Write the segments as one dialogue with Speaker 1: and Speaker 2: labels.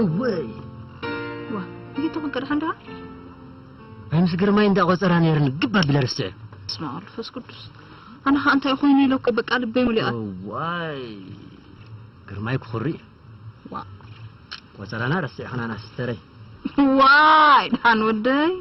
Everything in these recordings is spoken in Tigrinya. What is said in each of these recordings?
Speaker 1: እወይ
Speaker 2: ዋ ጌቶ ክንቀድሐ እንዳ ናይ
Speaker 1: ምስ ግርማይ እንዳ ቆጸራ ነይርኒ ግብ ኣቢለ ረስዐ ስማ መንፈስ
Speaker 2: ቅዱስ ኣነ ከ እንታይ ኮይኑ ኢለኩ በቃ ልበይ ሙሊኣ እዋይ
Speaker 1: ግርማይ ክኹሪ
Speaker 2: ዋእ ቆጸራና
Speaker 1: ረሲዕክናናስ እተረይ። ዋይ
Speaker 2: ድሓን ወደይ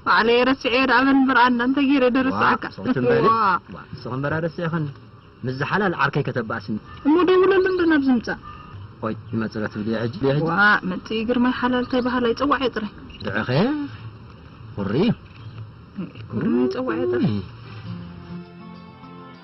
Speaker 2: ባዕለይ ረሲዐዮ ደኣ በል እምበር ኣንዳ እንታይ ጌረ ዶ ረሳዕካ። ዋእ ሰውቲ እምበሊ ዋእ
Speaker 1: ዋእ ንስኺ እምበር ኣረሲዕክን ምስዚ ሓላል ዓርከይ ከተባእስኒ። እሞ ደውለሉ እንዶ
Speaker 2: ናብዚ ምጻእ። ቆይ ይመጽእ
Speaker 1: ዶ ትብልዮ ሕጂ ድዮ ሕጂ ዋእ መጺኢ ግርማይ
Speaker 2: ሓላል እንታይ በሃላይ ጸዋዕዮ ጥራይ። ድዕኸ
Speaker 1: ቁሪ እዩ።
Speaker 2: ግርማይ ጸዋዕዮ ጥራይ። እይ።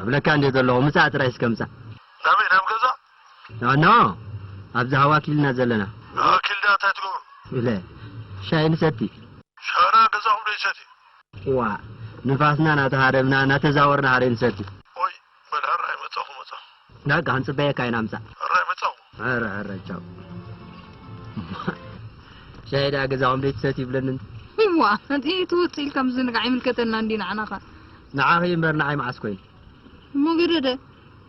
Speaker 3: ኣብለካ እንድየ ዘለኹ
Speaker 1: ምጻእ ጥራይ እስከ ምጻእ። ናበይ ናብ
Speaker 3: ገዛ? ኣኖ
Speaker 1: ኣብዚ ሃዋ ኪልና ዘለና። ንኣኪልዳ እንታይ
Speaker 3: ትገብሩ? ኢለ
Speaker 1: ሻሂ ንሰቲ። ሻራ
Speaker 3: ገዛኹም ዶ ይሰቲ? ዋእ
Speaker 1: ንፋስና ናተሃረምና ናተዛወርና ሃሬ ንሰቲ። ኦይ በል
Speaker 3: ሐራይ መጸኹ መጸኹ። ዳርጋ
Speaker 1: ክንጽበየካ ኢና ምጻእ። እረ ምጸው።
Speaker 3: እረ እረ ቻው።
Speaker 1: ሻሂ ደኣ ገዛኹም ደይትሰትዩ ብለኒ እንተ። እዋ እቲ
Speaker 2: ትውጽእ ኢልካ ምዝንጋዕ ኣይምልከተናን ድዩ ንዓና ከ። ንዓኺ እዩ እምበር
Speaker 1: ንዓይ መዓስ ኮይኑ። እሞ ገደደ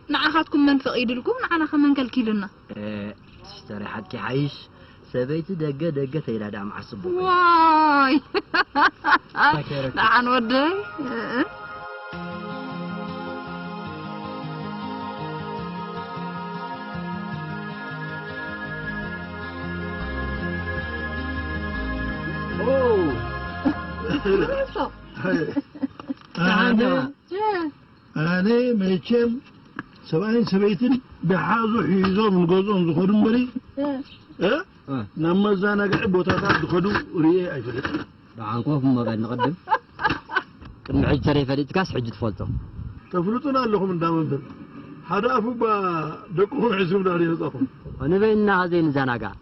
Speaker 2: ንዓኻትኩም መን ፈቒድልኩም ንዓናኸ መን ከልኪሉና። ኤእ ሲስተረይ
Speaker 1: ሓቂ ይሓይሽ። ሰበይቲ ደገ ደገ ተይላ ዳኣ መዓስ ጽቡቅ ኮይኑ። ዋይ
Speaker 2: ደሓን ወደይ
Speaker 3: ኦ ደሓን ዲኻ? ኣነ መቸም ሰብኣይን ሰበይትን ደሓዙ ሒዞም ንገዝኦም ዝኸዱ እምበሪ ናብ መዘናግዒ ቦታታት ዝኸዱ ርእየ ኣይፈልጥን። ደሓን ኮፍ እሞ
Speaker 1: በል ንቕድም ቅድሚ ሕጂ ተረይፈሊጥካስ ሕጂ ትፈልጦ። ተፍልጡና
Speaker 3: ኣለኹም እንዳ መምህር ሓደ ኣፉ እባ ደቅኹም ዕስቡ ዳርየ ህጻኹም። ንበይንና
Speaker 1: ዘይንዘናጋዕ።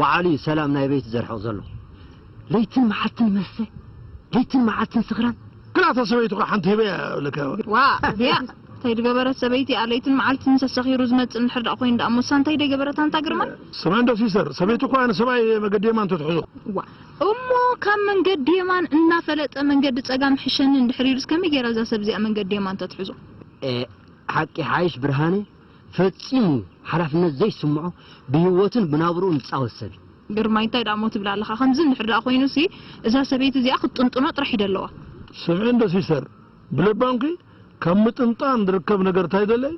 Speaker 1: ባዓሉ እዩ ሰላም ናይ ቤቱ ዘርሕቅ ዘሎ ለይትን ማዓልትን መስተ ለይትን ማዓልትን ስክራን። ክላተ ሰበይቱ ከ
Speaker 3: ሓንቲ ሂበያ እያ እብለካ ወረ። ዋእ ቢያዕ
Speaker 2: ታይ ድገበረት ሰበይቲ እያ ለይትን ማዓልትን ምሰ ሰኪሩ ዝመፅእ እንድሕር ዳኣ ኮይኑ ዳኣ እሞሳ እንታይ ደይገበረት ኣንታ ግርማ። ስምዐን ዶ ሲሰር
Speaker 3: ሰበይቲ እኮ ኣነ ሰብኣይ እየ መገዲ የማን ተትሕዞ። ዋእ እሞ
Speaker 2: ካብ መንገዲ የማን እናፈለጠ መንገዲ ፀጋም ይሕሸኒ እንድሕር ኢሉስ ከመይ ገይራ እዛ ሰብ እዚኣ መንገዲ የማን ተትሕዞ። ኤእ ሓቂ
Speaker 1: ሓይሽ ብርሃነ። ፈጺሙ ሓላፍነት ዘይስምዖ ብሂወቱን ብናብርኡን ዝጻወት ሰብ እዩ። ግርማይ እንታይ ድኣሞ
Speaker 2: ትብል ኣለኻ ከምዚ እንድሕር ድኣ ኮይኑሲ እዛ ሰበይቲ እዚኣ ክትጥንጥኖ ጥራሕ እዩ ደለዋ። ስምዒ እንዶ
Speaker 3: ሲሰር ብለባምኪ ካብ ምጥንጣን ዝርከብ ነገር ታይ ደለይ።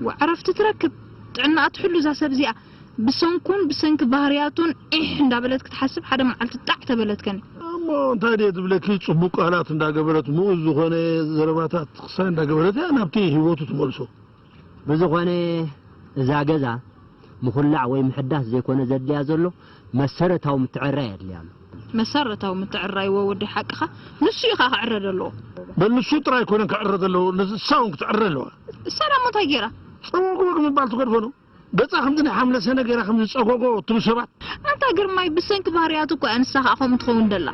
Speaker 3: ዋእ ዕረፍቲ
Speaker 2: ትረክብ ጥዕናኣ ትሕሉ እዛ ሰብ እዚኣ ብሰንኩን ብሰንኪ ባህርያቱን ዒሕ እንዳበለት ክትሓስብ ሓደ መዓልቲ ጣዕ ተበለትከን። እሞ እንታይ ድየ
Speaker 3: ዝብለኪ ጽቡቅ ቃላት እንዳገበረት ምኡዝ ዝኾነ ዘረባታት ክሳይ እንዳገበረት እያ ናብቲ ሂወቱ ትመልሶ። ብዝኾነ
Speaker 1: እዛ ገዛ ምኹላዕ ወይ ምሕዳስ ዘይኮነ ዘድልያ ዘሎ መሰረታዊ ምትዕርራይ የድልያ ኣሎ። መሰረታዊ
Speaker 2: ምትዕርራይ እወ ወዲ ሓቅኻ ንሱ እዩ ከኣ ክዕረ ደለዎ። በል ንሱ
Speaker 3: ጥራይ ኣይኮነን ክዕረ ዘለዎ ንሳ ውን ክትዕረ ኣለዋ። እሳ ዳሞ እንታይ
Speaker 2: ጌራ? ጸወግወግ ምባል
Speaker 3: ትገድፎ ዶ? ገጻ ከምዚ ናይ ሓምለ ሰነ ገይራ ከምዚ ጸጎጎ ትብሉ ሰባት። ኣንታ ግርማይ
Speaker 2: ብሰንኪ ባህርያቱ እኮ እያ ንሳ ከኣ ከምኡ ትኸውን ደላ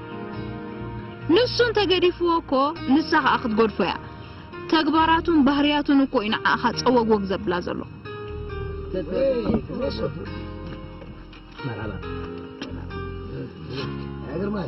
Speaker 2: ንሱ እንተ ገዲፍዎ እኮ ንሳ ከኣ ክትገድፎ እያ ተግባራቱን ባህርያቱን እኮ እዩ ንዓኻ ጸወግወግ ዘብላ ዘሎ። መርሓባ
Speaker 1: ግርማይ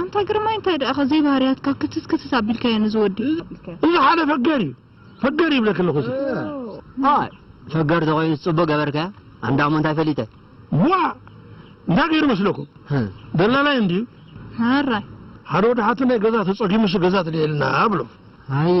Speaker 3: ኣንታ ግርማይ እንታይ
Speaker 2: ደኣኻ ዘይባህርያትካ ክትስ ክትስ ኣቢልካዮ ነዚ ወዲ። እዚ ሓደ
Speaker 3: ፈገር እዩ ፈገር ይብለኪ ኣለኹ እዚ። ኣይ
Speaker 1: ፈገር ተኾይኑስ ጽቡቅ ገበርካያ ኣንዳሞ እንታይ ፈሊጠ። ዋእ
Speaker 3: እንታይ ገይሩ መስለኩም ደላላይ እንድዩ ሕራይ።
Speaker 2: ሓደ ወዲ
Speaker 3: ሓትነይ ገዛ ተጸጊሙሲ ገዛ ትልዒልና ብሎም። ኣየ።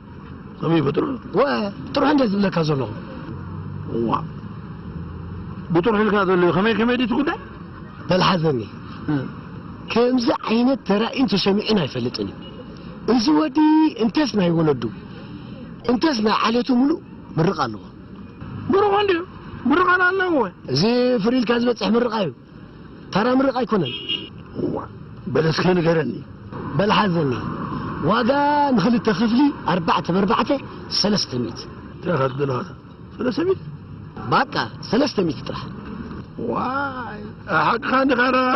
Speaker 3: ከመይ እዩ ብጥርሑ ወ ጥርሑ እንድየ
Speaker 4: ዝብለካ ዘለኹ። እዋ
Speaker 3: ብጥርሑ ኢልካ ዘሎዩ ከመይ ከመይ ድዩ እቲ ጉዳይ? በል ሓዘኒ
Speaker 4: ከምዚ ዓይነት ተራእዩን ተሰሚዑን ኣይፈልጥን እዩ እዚ ወዲ እንተስ ናይ ወለዱ እንተስ ናይ ዓሌቱ ምሉእ ምርቓ ኣለዎ። ብሩኽ እንድዩ
Speaker 3: ምርቓና ኣለዎ። እዚ ፍርይ ኢልካ
Speaker 4: ዝበጽሕ ምርቓ እዩ። ተራ ምርቓ ኣይኮነን። እዋ
Speaker 3: በል እስከ ንገረኒ። በል ሓዘኒ
Speaker 4: ዋጋ ንኽልተ ክፍሊ ኣርባዕተ በርባዕተ ሰለስተ ሚእቲ። እንታይ ኢኻ ትደሊ
Speaker 3: ኻኣ ሰለስተ ሚእቲ። ባቃ
Speaker 4: ሰለስተ ሚእቲ ጥራሕ።
Speaker 3: ዋይ ሓቅኻ እንዲኻ ዳኣ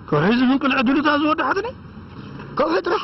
Speaker 3: ከውሒ ዝፍንቅል ዕድሉታ ዝወደሓትኒ። ከውሒ
Speaker 4: ጥራሕ።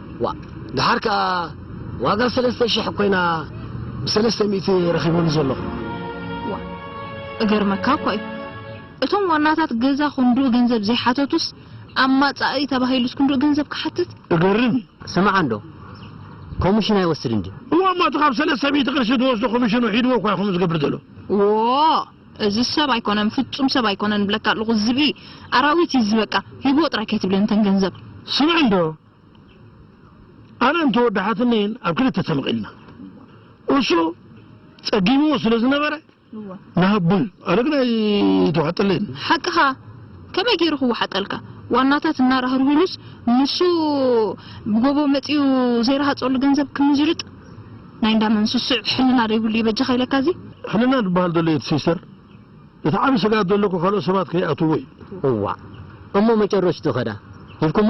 Speaker 4: ዋእ ድሓር ከኣ ዋጋ ሰለስተ ሽሕ ኮይና ብሰለስተ ሚእቲ ረኪበሉ ዘለኩ። ዋእ
Speaker 2: እገርመካ እኳ እዩ እቶም ዋናታት ገዛ ክንድኡ ገንዘብ ዘይሓተቱስ ኣብ ማጻኢ ተባሂሉስ ክንድኡ ገንዘብ ክሓትት። እገርም እዩ።
Speaker 3: ስማዕ እንዶ
Speaker 1: ኮምሽን ኣይወስድን ድዩ? እዋእ እሞ እቲ ካብ ሰለስተ
Speaker 3: ሚእቲ ቅርሺ ዝወስዶ ኮምሽኑ ሒድዎ እኳ እዩ ከምኡ ዝገብር ዘሎ። ዎእ
Speaker 2: እዚ ሰብ ኣይኮነን ፍጹም ሰብ ኣይኮነን እብለካ ኣለኩ ዝብኢ ኣራዊት እዩ እዚ በቃ ሂብዎ ጥራይ ከይትብለኒ ተን ገንዘብ። ስምዕ እንዶ
Speaker 3: ኣነ እንተ ወዲ ሓትነይን ኣብ ክልተ ተመቒልና እሱ ጸጊምዎ ስለ ዝነበረ ንሃቦ ኢሉ ኣነ ግን ኣይተዋሕጠለይን። ሓቅኻ
Speaker 2: ከመይ ገይሩ ክወሓጠልካ ዋናታት እናራህርህሉስ ንሱ ብጎቦ መጺኡ ዘይረሃጸሉ ገንዘብ ክምዝርጥ ናይ እንዳ መን ስሱዕ ሕልና ዶ ይብሉ ይበጃኻ ኢለካ እዚ ሕልና ዝበሃል ዘሎ
Speaker 3: የት ሲስተር እቲ ዓቢ ስግኣት ዘሎ እኮ ካልኦት ሰባት ከይኣትውዎ እዩ። እዋእ
Speaker 1: እሞ መጨረሽቱ ከዳ ሂብኩሞ?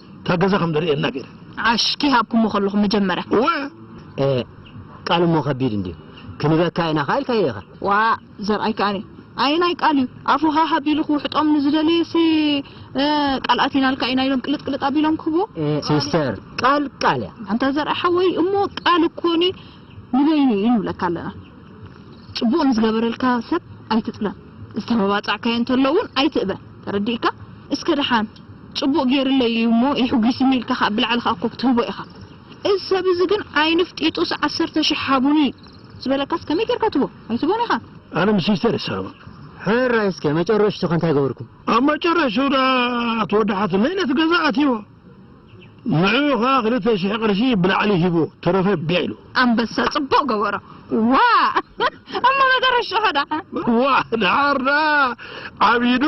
Speaker 3: እታ ገዛ ከም ደርእየና ገይረ። ዓሽ ከይሃብኩሞ
Speaker 2: ከለኹ መጀመርያ። እወ! ኤእ! ቃል
Speaker 1: እሞ ከቢድ እንድዩ። ክንበካ ኢና ከኣ ኢልካዮ ኢኻ። ዋእ! ዘርኣይ
Speaker 2: ከኣኒ ኣየናይ ቃል እዩ ኣፉ ሃህ ኣቢሉ ክውሕጦም ንዝደለየሲ እ ቃል ኣቲናልካ ኢና ኢሎም ቅልጥ ቅልጥ ኣቢሎም ክህብዎ? ኤእ ሲስተር!
Speaker 1: ቃል ቃል እያ። ኣንታ ዘርኣይ ሓወይ
Speaker 2: እሞ ቃል እኮኒ ንበይኑ እዩ ንብለካ ኣለና። ጽቡቕ ንዝገበረልካ ሰብ ኣይትጥለም፣ ዝተመባጻዕካዮ እንተሎ እውን ኣይትእበ። ተረዲእካ? እስከ ደሓን! ጽቡቅ ጌርለይ እዩ እሞ የሕጒስኒ ኢልካ ከኣ ብላዕሊ ከኣ እኮ ክትህቦ ኢኻ እዚ ሰብ እዚ ግን ዓይንፍ ጢጡስ ዓሰርተ ሽሕ ሃቡኒ ዝበለካስ ከመይ ጌርካ ትህቦ ኣይትህቦን
Speaker 3: ኢኻ።
Speaker 2: ኣነ ምስ ሚስተር
Speaker 3: ይሰማማዕ።
Speaker 1: ሕራይ እስከ መጨረሽቱኸ እንታይ ገበርኩም? ኣብ መጨረሽኡ
Speaker 3: ደኣ እቲ ወዲ ሓትነይ ነቲ ገዛ ኣትዩዎ። ንዕኡ ከኣ ክልተ ሽሕ ቅርሺ ብላዕሊ ሂቡ ተረፈ ቢዕ ኢሉ። ኣንበሳ ጽቡቅ
Speaker 2: ገበሮ ዋእ እሞ መጨረሽኡ ከዳዓ። ዋእ ድሓር
Speaker 3: ደኣ ዓቢዱ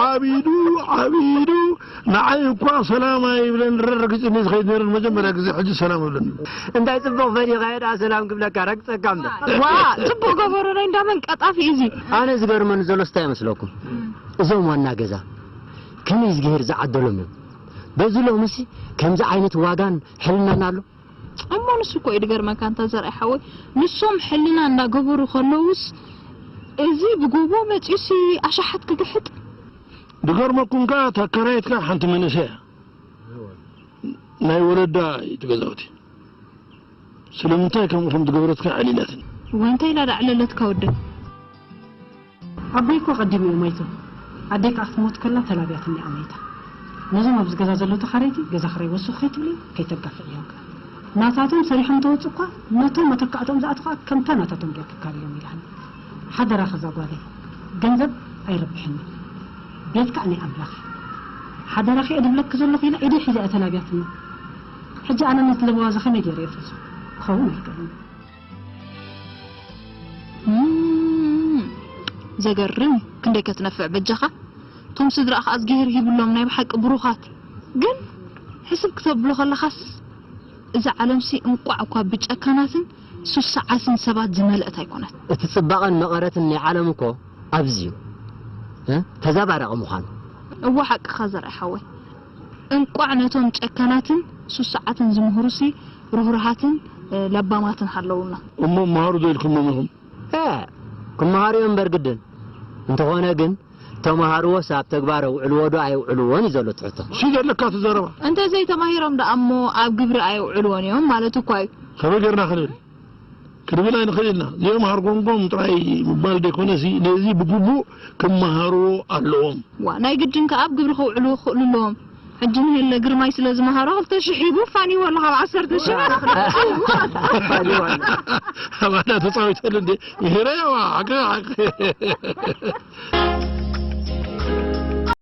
Speaker 3: ዓቢዱ ዓቢዱ ንዓይ እኳ ሰላም ኣይብለንን ረርጊጽኒ ዝኸይድ ነይሩ ንመጀመርያ ግዜ ሕጂ ሰላም እብለኒ። እንታይ ጽቡቅ
Speaker 1: ፈሊኻ እየ ደኣ ሰላም ክብለካ ረግጸካ እምበር። ዋእ ጽቡቅ
Speaker 2: ገበሮ ናይ እንዳ መን ቀጣፊ እዩ እዚ። ኣነ ዝገርመኒ
Speaker 1: ዘሎስ ታይ መስለኩም እዞም ዋና ገዛ ከመይ እዝግሄር ዝዓደሎም እዮም በዚ ሎምሲ ከምዚ ዓይነት ዋጋን ሕልናን ኣሎ? እሞ ንሱ እኮ
Speaker 2: እዩ ድገርመካ ኣንታ ዘርኣይ ሓወይ ንሶም ሕልና እንዳገበሩ ከለዉስ እዚ ብጎቦ መጺኡሲ ኣሻሓት ክግሕጥ።
Speaker 3: ድገርመኩም ከኣ እታ ኣካራይትካ ሓንቲ መንእሰይ እያ ናይ ወለዳ እዩ እቲ ገዛውቲ ስለምንታይ ከምኡ ከምዝገበረትካ ኣዕሊላትኒ። እዋይ እንታይ ኢላ
Speaker 2: ዳዕለለትካ ወደይ። ኣቦይ
Speaker 5: እኮ ኣቀዲሙ እዩ ሞይቱ ኣደይ ከኣ ክትሞት ከላ ተላብያትኒ እያ ሞይታ ነዞም ኣብዚ ገዛ ዘለዉ ተኻረይቲ ገዛ ክራይ ወስኹ ከይትብሊ ከይተጋፍዕዮም ከኣ ናታቶም ሰሪሖም እንተወጹ እኳ ነቶም መተካእትኦም ዝኣትዉ ከኣ ከምታ ናታቶም ጌርኪ ካብዮም ኢላኒ ሓደራኺ እዛ ጓለይ ገንዘብ ኣይረብሕን እዩ ቤት ከኣ ናይ ኣምላኽ እዩ ሓደራኺ እየ ድብለኪ ዘለኹ ኢላ ኢደይ ሒዛ እያ ተላብያትኒ ሕጂ ኣነ ነቲ ለበዋ እዚ ከመይ ጌረ እየ ፈጹ ክኸውን ኣይክእልን እዩ።
Speaker 2: ዘገርም እዩ ክንደይ ከትነፍዕ በጃኻ ቶም ስድራኣ ከኣ እዝጊሄር ሂብሎም ናይ ብሓቂ ብሩኻት ግን ሕስብ ክተብሎ ከለኻስ እዛ ዓለምሲ እንቋዕ እኳ ብጨካናትን ሱስዓትን ሰባት ዝመልእት ኣይኮነት። እቲ ጽባቐን መቐረትን
Speaker 1: ናይ ዓለም እኮ ኣብዚዩ ተዛባራቂ ምዃኑ። እወ ሓቅኻ
Speaker 2: ዘርኣይ ሓወይ እንቋዕ ነቶም ጨካናትን ሱሱዓትን ዝምህሩሲ ርህሩሃትን ለባማትን ሃለዉና። እሞ መሃሩ ዶ
Speaker 3: ኢልክሞም ኢኹም? ኤእ
Speaker 1: ክመሃሩ'ዮም እምበር ግድን። እንተኾነ ግን ተመሃርዎስ ኣብ ተግባር ኣውዕልዎ ዶ ኣየውዕልዎን እዩ ዘሎ እቲ ሕቶ። ሲ ዘለካ እቲ ዘረባ።
Speaker 3: እንተዘይተማሂሮም
Speaker 2: ደኣ'ሞ ኣብ ግብሪ ኣየውዕልዎን'ዮም ማለት እኳ'ዩ። ከመይ ጌርና ክንብል?
Speaker 3: ክንብል ኣይንኽእልን ኢና። እዚኦም ሃርጎምጎም ጥራይ ምባል ዘይኮነሲ ነዚ ብግቡእ ክመሃርዎ ኣለዎም። ዋእ ናይ ግድን ከኣ
Speaker 2: ኣብ ግብሪ ከውዕልዎ ክኽእሉ ኣለዎም። ሕጂ ንሄለ ግርማይ ስለ ዝመሃሮ ክልተ ሽሕ ሂቡ ፋንይዎ ኣሎ ካብ ዓሰርተ ሽሕ ኣፋንይዎ
Speaker 3: ኣሎ። ኣባና ተጻዊተሉ እንዴ ምሂረዮ ሓቅኻ ሓቂ።